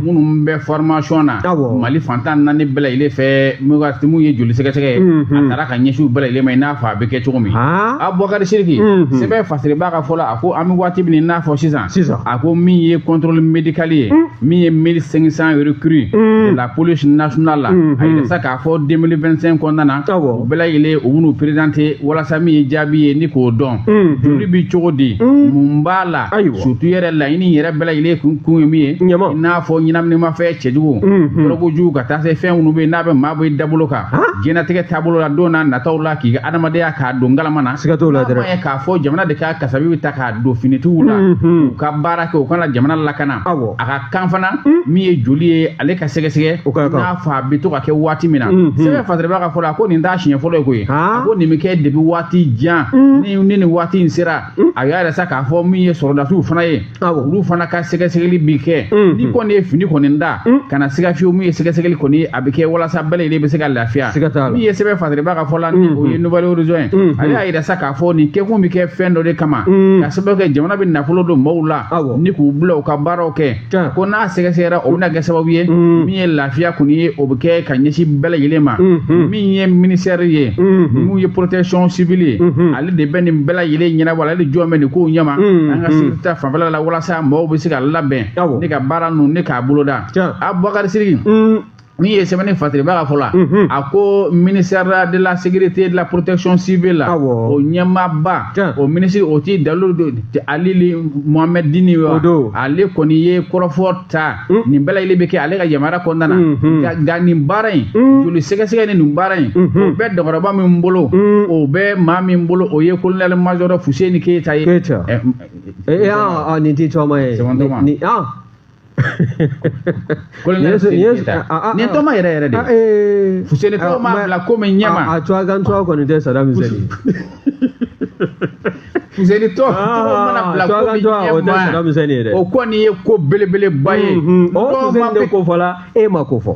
minnu bɛ formation na mali fan tan naani bɛɛ lajɛlen fɛ min ye joli sɛgɛsɛgɛ ye a taara ka ɲɛsin u bɛɛ lajɛlen ma i n'a fɔ a bɛ kɛ cogo min abubakari sidiki sɛbɛn fasiribaa ka fɔ la a ko an bɛ waati min n'a fɔ sisan a ko min ye contrôle médical ye min ye mille cinq cent recrues mm. de la police nationale la mm-hmm. a yira sa k'a fɔ 2025 kɔnɔna na u bɛɛ lajɛlen u bɛn'u présenter walasa min ye jaabi ye ni k'o dɔn mm-hmm. joli bi cogo di mm. mun b'a la surtout yɛrɛ laɲini yɛrɛ bɛɛ lajɛlen kun kun ye min ye i n'a fɔ ɲɛnaminimafɛn cɛjugu mm-hmm. dɔrɔgujugu ka taa se fɛn minnu bɛ yen n'a bɛ maa bɔ i dabolo kan diɲɛnatigɛ taabolo la don n'a nataw la k'i ka adamadenya k'a don ngalama na siga t'o la dɛrɛ k'a fɔ jamana de ka kasabi bɛ ta k'a don finitigiw la u ka baara kɛ u ka na jamana lakana a ka kan fana min ye joli ye ale ka sɛgɛsɛgɛ n'a fɔ a bɛ to ka kɛ waati min na sɛbɛn fasiriba ka fɔ la ko nin t'a siɲɛ fɔlɔ ye koyi a ko nin bɛ kɛ depuis waati jan ni ni nin waati in sera a y'a yira sa k'a fɔ min ye sɔrɔdasiw fana ye olu fana ka sɛgɛsɛgɛli bi kɛ ni kɔni ye fini kɔni da kana siga fiyewu min ye sɛgɛsɛgɛli kɔni a bɛ kɛ walasa bɛɛ lajɛlen bɛ se ka lafiya min ye sɛbɛn fasiriba ka fɔ la ni o ye nouvel horizon ye ale y'a yira sa A fɔ nin kɛkun bɛ kɛ fɛn dɔ de kama ka sababu kɛ jamana bɛ nafolo don maaw la ni k'u bila u ka baaraw kɛ ko n'a sɛgɛsɛgɛra o bɛna kɛ sababu ye min ye lafiya kɔni ye o bɛ kɛ ka ɲɛsin bɛɛ lajɛlen ma min ye ministère ye min ye protection civile ye ale de bɛ nin bɛɛ lajɛlen ɲɛnabɔ ale de jɔlen bɛ nin kow ɲɛma an ka sécurité fanfɛla walasa maaw bɛ se ka labɛn ni ka baara ninnu ni k'a boloda Abubakari min ye sɛbɛnni fatiriba ka fɔ la a ko ministère de la sécurité de la protection civile la o ɲɛmaaba o minisiri o ti Daoud Aly Mohammedine wa ale kɔni ye kɔrɔfɔ ta nin bɛɛ lajɛlen bɛ kɛ ale ka yamaruya kɔnɔna na nka nin baara in joli sɛgɛsɛgɛ ni nin baara in o bɛ dɔgɔtɔrɔba min bolo o bɛ maa min bolo o ye colonel major fuseni keyita ye nin t'i tɔgɔma ye nin tɔma yɛrɛ yɛrɛ de fuseni tɔ mana bila ko min ɲɛma a cogoya kan cogoya kɔni tɛ Saddam Hussein fuseni tɔ mana bila ko min ɲɛma o kɔni ye ko belebeleba ye fuseni de ko fɔla e ma ko fɔ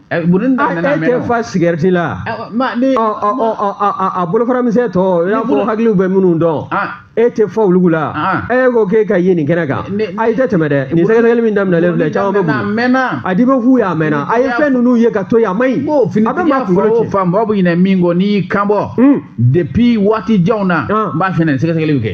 burun dɛ nana mɛn. A tɛ fa sigarɛti la. A bolofara misɛn tɔ i n'a fɔ hakiliw bɛ minnu dɔn. E tɛ fa olu la. E ko k'e ka ye nin kɛnɛ kan. A i tɛ tɛmɛ dɛ nin sɛgɛsɛgɛli min daminɛlen filɛ caman bɛ burun dɛ. A mɛnna. A di bɛ f'u ye a mɛnna. A ye fɛn ninnu ye ka to yen a man ɲi. A bɛ maa kunkolo ci. Fan mɔgɔ bɛ ɲinɛ min kɔ n'i y'i kanbɔ. Depuis waati janw na n b'a fɛ nin sɛgɛsɛgɛli bɛ kɛ.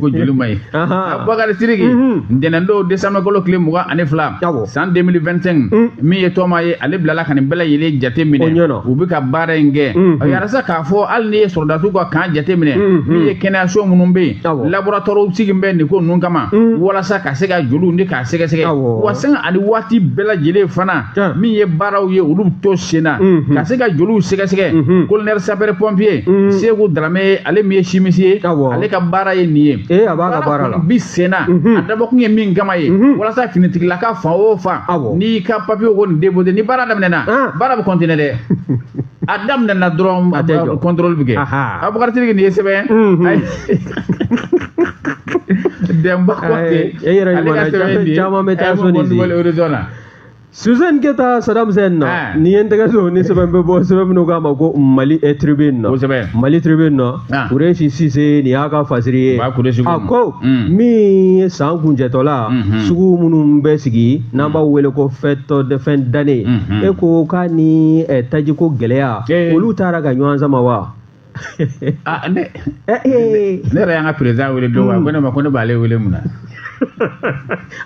ko joli ma ye Abubakari siriki ntɛnɛndon desanburukalo tile mugan ani fila san 2025 mm. min ye tɔma ye ale bilala ka nin bɛɛ lajɛlen jate minɛ u bɛ ka baara in kɛ mm, mm. y'a yira sa k'a fɔ hali n'i ye sɔrɔdasiw ka kan jate minɛ min ye kɛnɛyaso minnu bɛ yen laboratɔriw sigilen bɛ nin ko ninnu kama walasa ka se ka joliw ni ka sɛgɛsɛgɛ wa sanga ani waati bɛɛ lajɛlen fana min ye baaraw ye olu bɛ to senna ka se ka joliw sɛgɛsɛgɛ colonel sapeur pompier Seku daramɛ ale min ye chimiste ye ale ka baara ye nin ye a b'a ka baara la bi senna a dabɔkun ye min kama ye walasa finitigilaka fan o fan n'i ka papiye kɔni déposé ni baara daminɛna baara bɛ continuer dɛ a daminɛna dɔrɔn A tɛ jɔ. kɔntɔrɔli bɛ kɛ Aha. Abubakari nin ye sɛbɛn Mhm. Ayi. dɛmba ko Ayi, ten e yɛrɛ ale ka ɲuman na, sɛbɛn ye nin ye. caman bɛ taa A ye sɔn nin mɔgɔ di. Nouvel Horizon na Suzanne Keyita Saddam Hussein na Ah. ne ye n tɛgɛ don ni sɛbɛn bɛ bɔ sɛbɛn min u k'a ma ko Mali eh, tribune na o sɛbɛn Mali tribune na Ah. Kuresi Sise nin y'a ka fasiri ye. Ba Kuresi ko. A ko. Un. Min ye san kuncɛtɔla. Unhun. Sugu minnu bɛ sigi n'an b'a wele ko fête de fin d'année. Unhun. E ko k'a ni eh, tajiko gɛlɛya. Ee. Olu taara ka ɲɔgɔn sama wa. Ah, ne Eh, eh. ne yɛrɛ y'an ka président wele don wa ko ne ma ko ne b'ale wele mun na.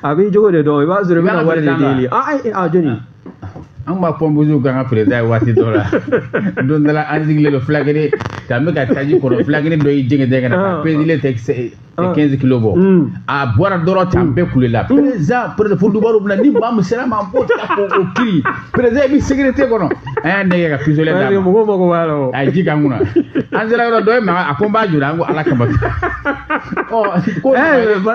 a b'i jogo de dɔn i b'a sɔrɔ i bɛna wari de deli. Ah, eh, ah, jɔni. an b'a pɔnpusiw kan ka président ye waati dɔ la don dɔ la an sigilen don fulakɛnin k'an bɛ ka taji kɔnɔ fulakɛnin dɔ y'i jɛngɛ jɛngɛ na ka perezile tɛ kɛnzi kilo bɔ a bɔra dɔrɔn tan bɛɛ kulela président président fo dubaru bɛna ni maa min sera ma b'o ta k'o o kiri président i bɛ sécurité kɔnɔ an y'a nɛgɛ ka pistolet d'a ma mɔgɔw mago b'a la o a ye ji k'an kunna an sera yɔrɔ dɔ ye maga a ko n b'a juru an ko ala kama ɔ ko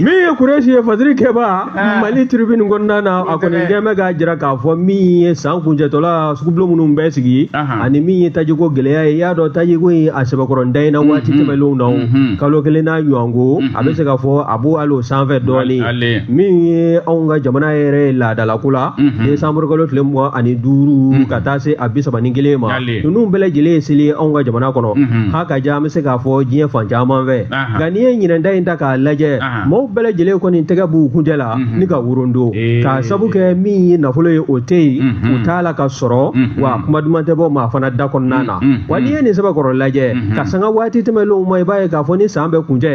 min ye kuresi ye fasirikɛbaa ah. mali tribune kɔnɔna na a kɔni kɛn bɛ k'a jira k'a fɔ min ye san kuncɛtɔla sugubulon minnu bɛ sigi ani min ye tajiko gɛlɛya ye i y'a dɔn tajiko in a sɛbɛkɔrɔ da in na mhm. waati tɛmɛnlenw na mhm. kalo kelen n'a ɲɔgɔnko a mhm. bɛ se k'a fɔ a b'o hali o sanfɛ dɔɔnin min ye anw ka jamana yɛrɛ ye laadalako la desanburu kalo tile mugan ani duuru ka taa se a bi saba ni kelen ma ninnu bɛɛ lajɛlen ye seli anw ka jamana kɔnɔ hakaja an bɛ se k'a fɔ diɲɛ fan caman fɛ ah. nka n'i ye ɲinan ta in ta k'a lajɛ maaw bɛɛ lajɛlen kɔni tɛgɛ b'u kuncɛ la ni ka worondo k'a sabu kɛ min ye nafolo ye o tɛ yen u t'a la ka sɔrɔ wa kuma duman tɛ bɔ maa fana da kɔnɔna na wa n'i ye nin sɛbɛkɔrɔ lajɛ ka sanga waati tɛmɛnlenw ma i b'a ye k'a fɔ ni san bɛ kuncɛ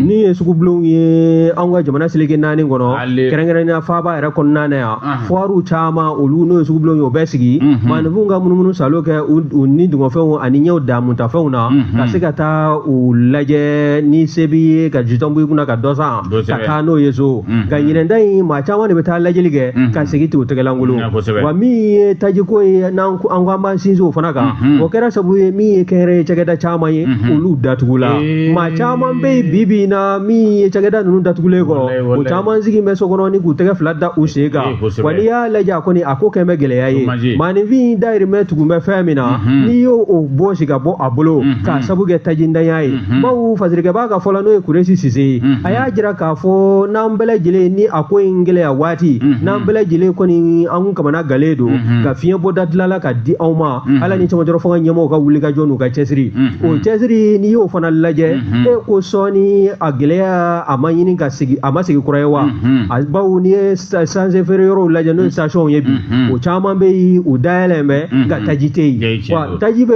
ni ye sugubulonw ye an ka jamana seleke naani kɔnɔ kɛrɛnkɛrɛnnenya faaba yɛrɛ kɔnɔna na yan fuwariw caman olu n'o ye sugubulon ye o bɛ sigi maaninfinw ka munumunu saalo kɛ u ni dungɔfɛnw ani ɲɛw damutafɛnw na ka se ka taa u lajɛ ni se b'i ye ka jitɔn b'i kunna ka dɔ san ka taa n'o ye so nka ɲinan ta in maa caman de bɛ taa lajɛli kɛ ka segin ten u tɛgɛlankolon wa min ye tajiko ye n'an ko an ko an b'an sinsin o fana kan o kɛra sabu ye min ye kɛnyɛrɛye cakɛda caman ye olu datugula maa caman bɛ yen bi bi in na min ye cakɛda ninnu datugulen kɔrɔ o caman sigin bɛ so kɔnɔ ni k'u tɛgɛ fila da u sen kan wa n'i y'a lajɛ a kɔni a ko kɛn bɛ gɛlɛya ye maaninfin dayirimɛ tugun bɛ fɛn min na n'i y'o o bɔsi ka bɔ a bolo k'a sabu kɛ tajintanya ye bawo fasirikɛbaa ka fɔ la n'o ye kuresi sise ye a y'a jira k'a fɔ n'an bɛɛ lajɛlen ni a ko in gɛlɛya waati n'an bɛɛ lajɛlen kɔni an kamanagannen don ka fiɲɛbɔda deli ala k'a di anw ma ala ni cɛmancɛrɔ fanga ɲɛmɔgɔw ka wuli ka jɔ n'u ka cɛsiri o cɛsiri n'i y'o fana lajɛ e ko sɔɔni a gɛlɛya a ma ɲini ka sigi a ma sigi kura ye wa a bawo n'i ye esansi feere yɔrɔw lajɛ n'o ye stationw ye bi o caman bɛ yen u dayɛlɛn bɛ nka taji tɛ yen wa taji bɛ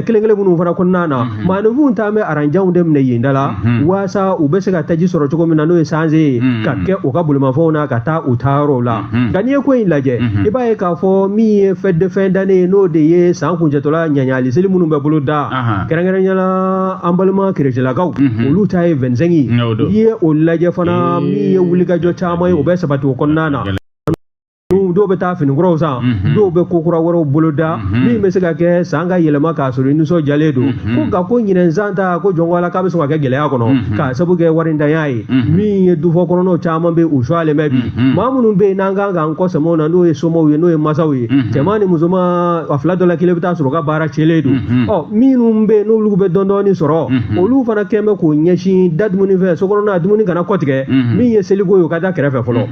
kelen kelen minnu fana kɔnɔna na maaninfinw tun bɛ aran janw de minɛ yen da la waasa u bɛ se ka taji sɔrɔ cogo min na n'o ye sansi ye ka kɛ u ka bolimafɛnw na ka taa u taa yɔrɔw la nka n'i ye ko in lajɛ i b'a ye k'a fɔ min ye fête de fin d'année ye n'o de ye san kuncɛtɔla ɲagali seli minnu bɛ boloda kɛrɛnkɛrɛnya la an balima kerecɛlakaw olu ta ye vingt-cinq ye n'i ye o lajɛ fana min ye wulikajɔ caman ye o bɛ sabati o kɔnɔna na dɔw bɛ taa fini kuraw san mhm. dɔw bɛ ko kura wɛrɛw boloda mhm. min bɛ se ka kɛ san ka yɛlɛma k'a sɔrɔ i nisɔndiyalen don mhm. ko nka ko ɲinɛn san ta ko jɔn ko ala k'a bɛ sɔn ka kɛ gɛlɛya kɔnɔ k'a sabu kɛ warintanya ye min ye dufɔ kɔnɔnaw caman bɛ u sumalen bɛ bi maa minnu bɛ yen n'an kan k'an kɔ sɛmɛ u na n'o ye somɔw ye n'o ye masaw ye cɛman ni musoman a fila dɔ la kelen bɛ t'a sɔrɔ a ka baara cɛnlen don ɔ minnu bɛ yen n'olu bɛ dɔɔni dɔɔni sɔrɔ olu fana kɛlen bɛ k'o ɲɛsin da dumuni fɛ so kɔnɔna dumuni kana kɔtigɛ min ye seliko ye o ka da kɛrɛfɛ fɔlɔ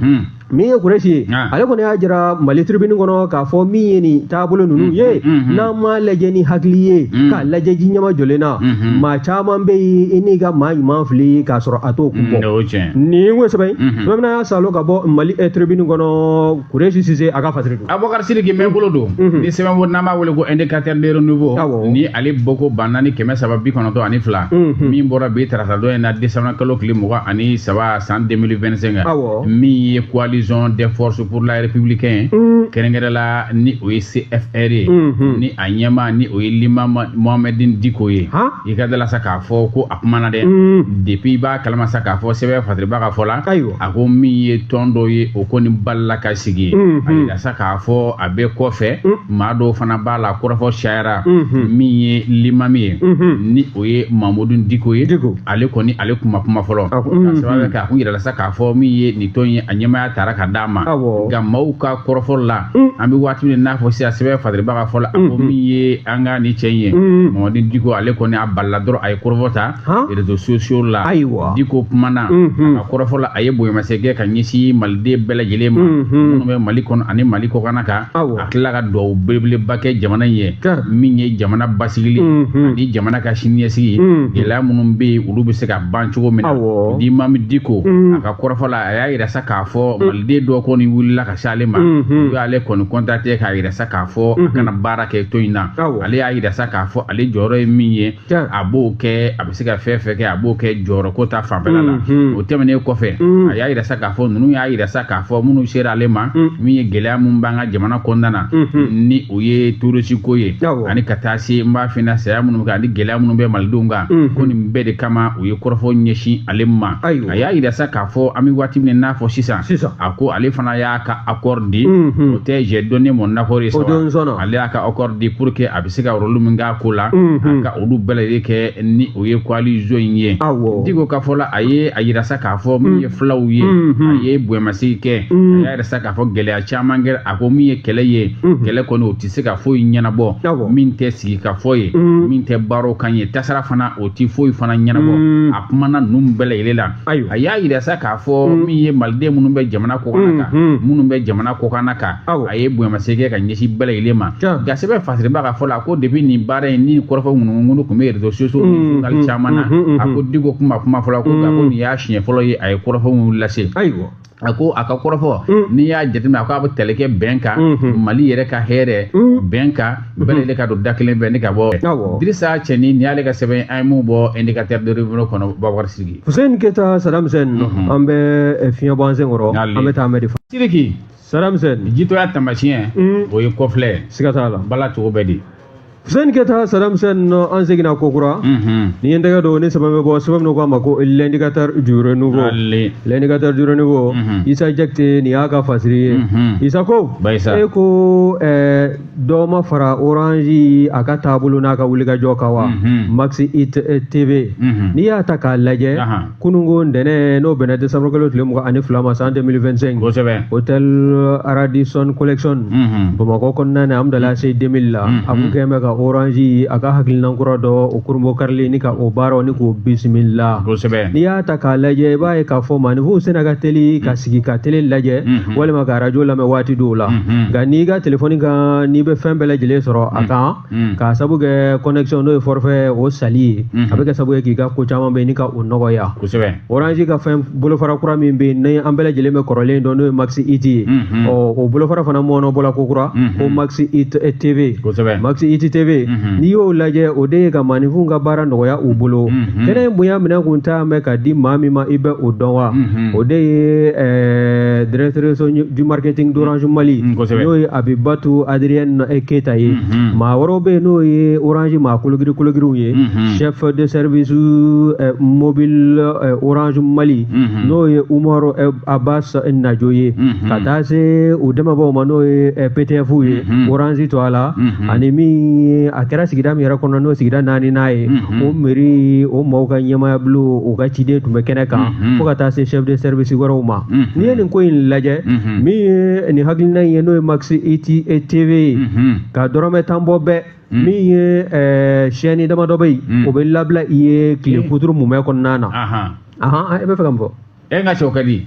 min ye kuresi ye ah. ale kɔni y'a jira mali tribune kɔnɔ k'a fɔ min ye nin taabolo ninnu mm, ye mm, mm, n'an m'a lajɛ ni hakili ye k'a lajɛ ji ɲɛmajɔlen na mm-hmm. maa caman bɛ yen i n'i ka maa ɲuman fili k'a sɔrɔ a t'o kun bɔ nin ko sɛbɛn mm-hmm. bamana y'a salo ka bɔ mali eh, tribune kɔnɔ kuresi sise a ka fasiri don abubakar sidiki mɛnkolo don mm-hmm. ni sɛbɛn ko n'an b'a wele ko indicateur de renouveau ni ale bɔko ba naani kɛmɛ saba bi kɔnɔntɔn ani fila min bɔra bi tarata don in na desanburu kalo tile mugan ani saba san 2025 min ye coalition des forces pour la républicaine mm. kɛrɛnkɛrɛn la ni o ye CFR ye mm-hmm. ni a ɲɛmaa ni o ye Limami Mahamoud Diko ye i ka d'a la sa k'a fɔ ko a kumana dɛ mm. depuis i b'a kalama sa k'a fɔ sɛbɛn fasiribaa ka fɔ la a ko min ye tɔn dɔ ye o kɔni balila ka sigi mm-hmm. a yira sa k'a fɔ a bɛ kɔfɛ mm. maa dɔw fana b'a la kɔrɔfɔ cayara mm-hmm. min ye limami ye ni o ye Mahamoud Diko ye ale kɔni ale kuma kuma fɔlɔ ka sababu kɛ a kun yirala sa k'a fɔ min ye nin tɔn ye a ɲɛmaya taara ka d'a ma nka maaw ka kɔrɔfɔ la an bɛ waati min n'a fɔ sisan sɛbɛn fasiribaa ka fɔ la a ko min ye an ka nin cɛ in ye mahamoud diko ale kɔni a balila dɔrɔn a ye kɔrɔfɔ ta réseaux sociaux la ayiwa diko kumana a ka kɔrɔfɔ la a ye bonyamasegin kɛ ka ɲɛsin maliden bɛɛ lajɛlen ma minnu bɛ mali kɔnɔ ani mali kɔkanna ka tila ka dugawu belebeleba kɛ jamana in ye min ye jamana basigili mhm. ani jamana ka siniɲɛsigi ye mhm. gɛlɛya minnu bɛ yen olu bɛ se ka ban cogo min na limami diko mhm. a ka kɔrɔfɔ la a y'a yira sa k'a fɔ maliden dɔw kɔni wulila ka se ale ma u y'ale kɔni contacté k'a yira sa k'a fɔ a ka na baara kɛ tɔn in na ale y'a yira sa k'a fɔ ale jɔyɔrɔ ye min ye a b'o kɛ a bɛ se ka fɛn o fɛn kɛ a b'o kɛ jɔyɔrɔ ko ta fanfɛla la o tɛmɛnen kɔfɛ a y'a jira sa k'a fɔ ninnu y'a jira sa k'a fɔ minnu sera ale ma min ye gɛlɛya min b'an ka jamana kɔnɔna na ni o ye terɔrisiko ye ani ka taa se n b'a f'i ɲɛna saya minnu kan ani gɛlɛya minnu bɛ malidenw kan ko nin bɛɛ de kama u ye kɔrɔfɔ ɲɛsin ale ma a y'a jira sa k'a fɔ an bɛ waati min n'a fɔ sisan a ko ale fana y'a ka accord di o tɛ j'ai donné mon accord ye ale y'a ka accord di pour que a se ka rôle min k'a ko la a ka olu bɛɛ lajɛlen kɛ ni o ye coalition in ye diko ka fɔ la a ye a jira sa k'a fɔ min ye fulaw ye a ye bonyamasegin kɛ a y'a jira sa k'a fɔ gɛlɛya caman kɛ a ko min ye kɛlɛ ye kɛlɛ kɔni o tɛ se ka foyi ɲɛnabɔ min tɛ sigi ka fɔ ye min tɛ baro kan ye tasara fana o tɛ foyi fana ɲɛnabɔ a kumana ninnu bɛɛ lajɛlen la ayiwa a y'a jira sa k'a fɔ mm. min ye maliden minnu bɛ jamana kɔkan na kan mm, mm. minnu bɛ jamana kɔkan na kan a ye bonyamasegin kɛ ka ɲɛsin bɛɛ lajɛlen ma nka sɛbɛn fasiribaa ka fɔ la ko depuis nin baara in ni kɔrɔfɔ ŋunuŋunu tun bɛ réseaux sociaux ni journal caman na a ko diko tun ma kuma fɔlɔ ko nka ko nin y'a siɲɛ fɔlɔ ye a ye kɔrɔfɔ minnu lase ayiwa A ko a ka kɔrɔfɔ n'i y'a jateminɛ a ko a bɛ tali kɛ bɛn kan mali yɛrɛ ka hɛrɛ bɛn kan bɛɛ de ka don da kelen fɛ ne ka bɔ Idrisa Cɛni nin y'ale ka sɛbɛn a ye min bɔ indicateur du renouveau kɔnɔ Babakar Sidiki Hussein Keyita Saddam Hussein an bɛ fiɲɛbɔ sen kɔrɔ an bɛ taa anmeri fɔ Sidiki Saddam Hussein jitɔya tamasiɲɛ o ye kɔfilɛ siga t'a la bala cogo bɛ di Hussein Keyita Saddam Hussein an seginna kokura nin ye tɛgɛ don ni saba bɛ bɔ sɛbɛn k'a ma ko l'indicateur du renouveau l'indicateur du renouveau Isa Jakite nin y'a ka fasiri ye isa ko e ko dɔ ma fara orange a ka taabolo n'a ka wulikajɔ kan wa Max IT TV n'i y'a ta k'a lajɛ kununko ntɛnɛn n'o bɛnna décembre kalo tile mugan ani fila ma san 2025 kosɛbɛ hôtel Radisson collection mhm. bamakɔ kɔnɔna na Hamdallaye ACI 2000 la mhm. a kun kɛlen bɛ ka orange a ka hakilinan kura dɔ o kurunbonkarili ni ka o baaraw ni k'o bisimila kosɛbɛ n'i y'a ta k'a lajɛ i b'a ye k'a fɔ maanifinw sena ka teli ka mhm. sigi ka tele lajɛ walima ka arajo lamɛn waati dɔw la nka n'i ka telefɔni kan n'i bɛ fɛn bɛɛ lajɛlen sɔrɔ a kan Hmm. Ka sabu kɛ connexion n'o ye forfait o sanli ye, unhun, a bɛ kɛ sabu ye k'i ka ko caman bɛn ni ka o nɔgɔya, kosɛbɛ, orange ka fɛn bolofara kura min bɛ yen ni an bɛɛ lajɛlen bɛ kɔrɔlen dɔn n'o ye Max IT ye, unhun, ɔ o bolofara fana mɔɔnɔbɔla kokura, unhun, ko Max IT TV, kosɛbɛ, Max IT TV, unhun, n'i y'o lajɛ o de ye ka maaninfinw ka baara nɔgɔya u bolo, unhun, kɛnɛ in bonya minɛn kun ta mɛn ka di maa min ma i bɛ o dɔn wa, unhun, o de ye ɛɛ directrice du marketing d'Orange Mali, un, kosɛbɛ, n'o ye Abibatu Adrienne e keyita ye maa wɛrɛw bɛ yen n'o ye orange maa kologiri kologiriw ye chef de service mobile orange mali n'o ye Umaru Aba Najo ye ka taa se u dɛmɛbaaw ma n'o ye PTFw ye orange to a la ani min a kɛra sigida min yɛrɛ kɔnɔ n'o sigida naaninan ye o mɛri o mɔgɔw ka ɲɛmaaya bulon u ka ciden tun bɛ kɛnɛ kan fo ka taa se chef de service wɛrɛw ma Mm-hmm. n'i ye nin ko in lajɛ mm-hmm. min ye nin hakilina in ye n'o ye max it tv ye mm-hmm. ka dɔrɔmɛ tan bɔ bɛɛ mm. min ye eh, chaîne damadɔ bɛ yen mm. o bɛ labila i ye tile mm. kuturu mumɛ kɔnɔna na ahan e bɛ fɛ ka mun fɔ e ka cogo ka di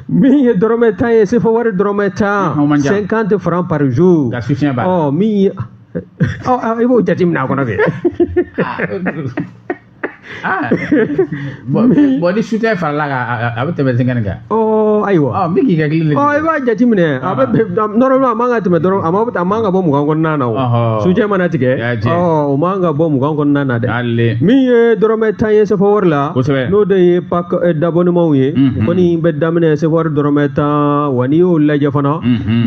min ye dɔrɔmɛ tan ye sefa wari dɔrɔmɛ tan cinquante franc par jour ka soutien b'a la ɔ min ye i b'o jateminɛ a kɔnɔ kɛ Ah. bɔn ni su tɛ farala kan a bɛ tɛmɛ seegin kan ayiwa n bɛ k'i ka kelen i b'a jate minɛ a bɛ normalement a man ka tɛmɛ dɔrɔn a ma a man ka bɔ mugan kɔnɔna na o sujɛ mana tigɛ o man ka bɔ mugan kɔnɔna na dɛ min ye dɔrɔmɛ tan ye sefa wari la n'o de ye pack d'abonnement ye kɔni bɛ daminɛ sefa wari dɔrɔmɛ tan wa n'i y'o lajɛ fana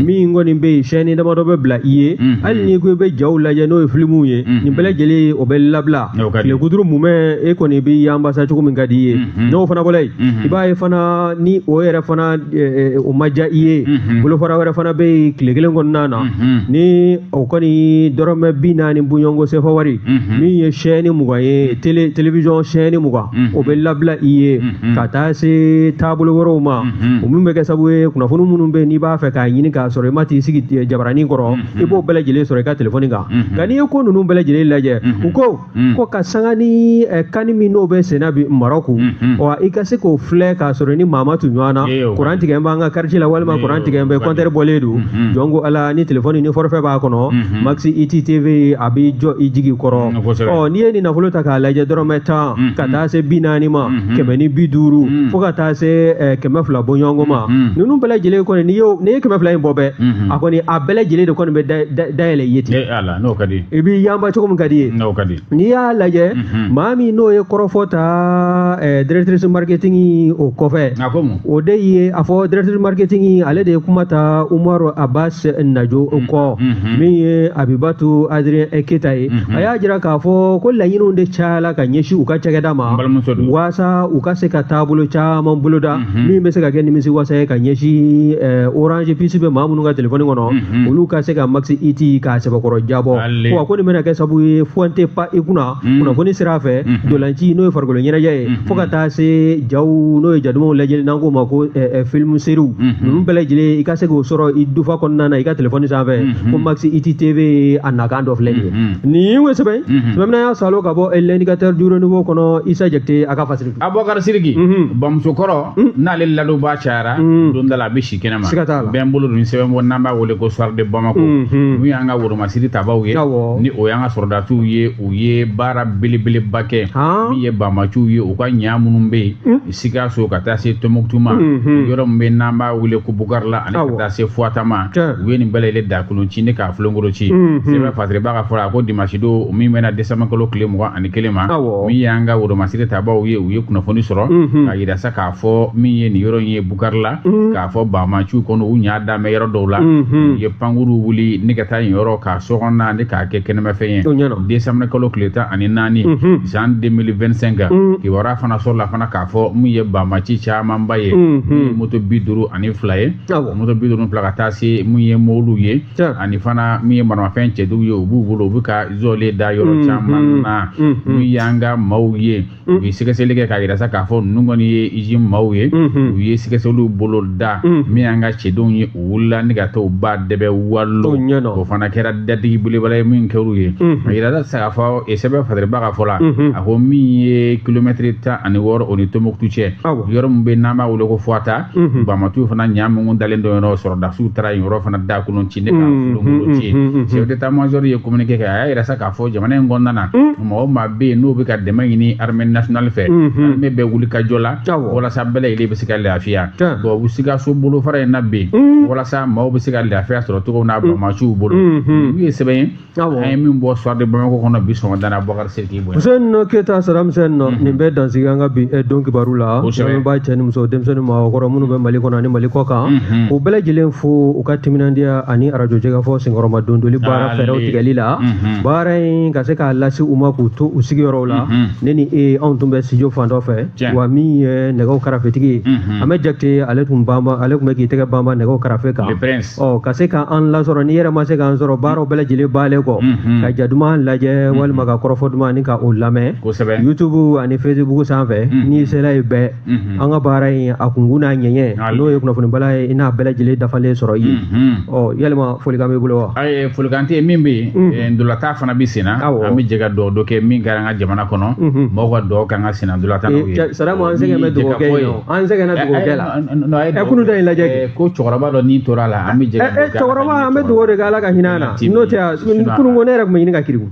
min kɔni bɛ yen chaîne damadɔ bɛ bila i ye hali n'i ko i bɛ jaw lajɛ n'o ye filimuw ye nin bɛɛ lajɛlen o bɛ labila tilekuturu mumɛ e kɔni b'i yanba sa cogo min ka di i ye n'o fana bɔlen yen i b'a ye fana ni o yɛrɛ fana o ma diya i ye bolofara wɛrɛ fana bɛ yen tile kelen kɔnɔna na ni o kɔni dɔrɔmɛ bi naani bɔɲɔgɔnko sefa wari min ye chaîne mugan ye télévision chaîne mugan o bɛ labila i ye ka taa se taabolo wɛrɛw ma o min bɛ kɛ sabu ye kunnafoni minnu bɛ n'i b'a fɛ k'a ɲini k'a sɔrɔ i ma t'i sigi jabaranin kɔrɔ i b'o bɛɛ lajɛlen sɔrɔ i ka telefɔni kan nka n'i ye ko ninnu bɛɛ lajɛlen lajɛ u ko ko ka sanga ni eh, kani min n'o bɛ senna bi marɔku wa i ka se k'o filɛ k'a sɔrɔ ni maa ma tu ɲɔgɔn na Ee, o kuran tigɛlen b'an ka kartiye la walima Ee, kuran o tigɛlen bɛ kɔni. kɔntɛri bɔlen don jɔn ko ala ni telefɔni ni forofɛ b'a kɔnɔ max it tv a b'i jɔ i jigi kɔrɔ Mm, kosɛbɛ. ɔ n'i ye nin nafolo ta k'a lajɛ dɔrɔmɛ tan ka taa se bi naani ma kɛmɛ ni bi duuru fo ka taa se eh, kɛmɛ fila bɔɲɔgɔnko ma ninnu bɛɛ lajɛlen kɔni n'i y'o- n'i ye kɛmɛ fila in bɔ bɛɛ a hmm. kɔni a bɛɛ lajɛlen de kɔni bɛ dayɛlɛ i ye ten n'o ka di i b'i yanba cogo min ka di i ye n'o ka di n'i y'a lajɛ mhm. maa min n'o ye kɔrɔfɔ ta eh, directrice marketing o kɔfɛ o de ye a fɔ directrice marketing ale de ye kuma ta umaru abbas najo mhm. kɔ mhm. min ye abibatu adrien keyita ye a y'a jira k'a fɔ ko laɲiniw de cayala ka ɲɛsin u ka cakɛda ma waasa u ka se ka taabolo caman boloda Mhm. min bɛ se ka kɛ nimisi wasa ye ka ɲɛsin eh, orange puce bɛ maa minnu ka telefɔni kɔnɔ mhm. olu ka se ka max it k'a sɛbɛkɔrɔ diyabɔ wa ko nin bɛna kɛ sabu ye fɛn tɛ pan i kunna mhm. kunnafoni sira fɛ ntolaci n'o ye farikolo ɲɛnajɛ ye fo ka taa se jaw n'o ye jadumanw lajɛli n'an k'o ma ko eh, eh, film seriw ninnu bɛɛ lajɛlen i ka se k'o sɔrɔ i dufa kɔnɔna na i ka telefɔni sanfɛ ko max it tv a nakun dɔ filɛ nin ye nin ye sɛbɛn sɛbɛn min an y'a salo ka bɔ l'indicateur du renouveau kɔnɔ isa jakite a ka fasiri abubakar siriki mhm. bamuso kɔrɔ mhm. n'ale ladonbaa cayara mhm. don dɔ la a bɛ si kɛnɛma bɛn bolo don sɛbɛn bɔ n'an b'a wele ko soir de bamako n'u y'an ka woromasiri tabaw ye ni o y'an ka sɔrɔdasiw ye u ye baara belebeleba kɛ min ye banbaanciw ye u ka ɲa minnu bɛ yen hmm. sikaso ka taa se tombouctou ma yɔrɔ min bɛ n'an b'a wele ko bukari la ani ka taa se fuwata ma u ye nin bɛɛ lajɛlen daakolon ci ni k'a filenkolon ci sɛbɛn fasiribaa ka fɔ la a ko dimanche don min bɛnna décembre kalo tile mugan ani kelen ma min y'an ka woromasiri tabaw ye u ye kunnafoni sɔrɔ mhm. k'a yira sa k'a fɔ min ye nin yɔrɔ in ye bukari la mhm. k'a fɔ banbaanciw kɔni u ɲa damɛ yɔrɔ dɔw la mhm. u ye pankurun wuli ni ka taa nin yɔrɔ k'a sɔgɔnna ni k'a kɛ kɛnɛmafɛn ye décembre kalo tile tan ani naani san 2025 kibaruya fana sɔrɔla fana k'a fɔ min ye banbaanci camanba ye min ye moto bi duuru ani fila ye moto bi duuru ni fila ka taa se min ye mɔbiliw ye ani fana min ye maramafɛn cɛjugu ye u b'u bolo u bɛ ka zlen da yɔrɔ caman na min y'an ka maaw ye u ye sɛgɛsɛgɛli kɛ k'a jira sa k'a fɔ ninnu kɔni ye jnim maaw ye u ye sɛgɛsɛgɛliw bolo da min y'an ka cɛdenw ye u wulila ni ka taa u ba dɛbɛ walo o fana kɛra datigi belebeleba ye min kɛra u ye a jira sa k'a fɔ sɛbɛn fasiribaa ka fɔ la a ko min ye kilomɛtiri tan ani wɔɔrɔ o ni tombouctou cɛ yɔrɔ min bɛ n'an b'a weele ko fuwata mhm. banbaanciw fana ɲa minnu dalen don yɔrɔ sɔrɔdasiw taara yen yɔrɔ fana daakolon ci ni k'a mhm, filenkolon mhm, ci chef d'état major ye communiqué kɛ a y'a yira sa k'a fɔ jamana in kɔnɔna na maa o maa bɛ yen n'o bɛ ka dɛmɛ ɲini armée nationale fɛ armée bɛ wulikajɔ la walasa bɛɛ lajɛlen bɛ se ka lafiya bon u sikaso bolofara in na bɛ yen walasa maaw bɛ se ka lafiya sɔrɔ cogo min na banbaanciw bolo n'o ye sɛbɛn ye an ye min bɔ soir de bamako kɔnɔ bi sɔgɔmada na abubakar siriki bon hussein nɔ keyita saramusɛn nɔ mhm. nin bɛ dan sigi an ka bi eh, don kibaru la lamɛnbaa cɛ ni muso denmisɛn ni maakɔrɔ minnu bɛ mali kɔnɔ ani mali kɔkan mhm. u bɛɛ lajɛlen fo u ka timinandiya ani arajo jɛkafɔ senkɔrɔma dondoli baara fɛɛrɛw tigɛli la mhm. baara in ka se k'a lase u ma k'u to u sigiyɔrɔw la ne ni e anw tun bɛ studio fan dɔ fɛ wa min ye nɛgɛw karafetigi ye an bɛ jakite ale tun bɛ k'i tɛgɛ banban nɛgɛw karafe kan ɔ ka se ka an lasɔrɔ n'i yɛrɛ ma se k'an sɔrɔ baaraw bɛɛ lajɛlen bannen kɔ k'a ja duman lajɛ walima ka kɔrɔfɔ duman ani ka o lamɛn youtube ani facebook sanfɛ n'i sera yen i bɛ an ka baara in a kunkun n'a ɲɛɲɛ n'o ye kunnafoni bala ye i n'a bɛɛ lajɛlen dafalen sɔrɔ yen ɔ yalima folikan b'i bolo wa folikan tɛ min bɛ yen ntolatan fana bɛ senna an bɛ jɛ ka dugawu dɔ kɛ min kɛra an ka jamana kɔnɔ mɔgɔw ka dugawu k'an ka senna ntolatan ye sariya an sɛgɛn bɛ dugawu kɛ ye an sɛgɛnna dugawu kɛ la ɛ kunun ta in lajɛ kɛ ko cɛkɔrɔba dɔ ni tora a la an bɛ jɛ ɛ cɛkɔrɔba an bɛ dugawu de kɛ ala ka hinɛ an na n'o tɛ kunun ko ne yɛrɛ tun bɛ ɲini ka kirin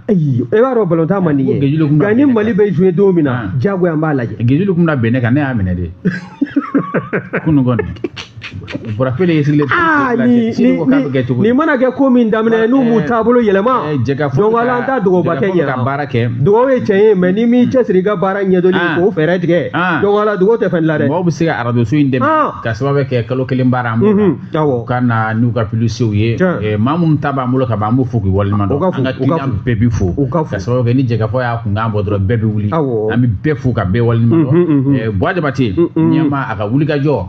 ayi e b'a dɔn balontan man di n ye nka ni mali bɛ jouer don min na diyagoya an b'a lajɛ gejulu tun bɛ bin ne kan ne y'a minɛ de kunun kɔni Bɔra kelen ye sigilen nin mana kɛ ko min daminɛ n'u m'u taabolo yɛlɛma an ka dɔgɔba kɛ ka baara kɛ dɔgɔ ye tiɲɛ ye mɛ ni m'i cɛsiri ka baara ɲɛdɔn k'o fɛɛrɛ tigɛ dɔgɔ dugawu tɛ fɛn la dɛ mɔgɔw bɛ se ka arajoso in dɛmɛ ka sababu kɛ kalo kelen baara an ka na n'u ka pibilisitew ye maa minnu ta b'an bolo ka ban an b'u fo k'u waleɲuman dɔn an ka kiliyan bɛɛ bɛ fo ka sababu kɛ ni Jɛkafɔ y'a kunkan bɔ dɔrɔn bɛɛ bɛ wuli an bɛ bɛɛ fo ka bɛɛ waleɲuman dɔn Buwa Jabate ɲɛma a ka wuli ka jɔ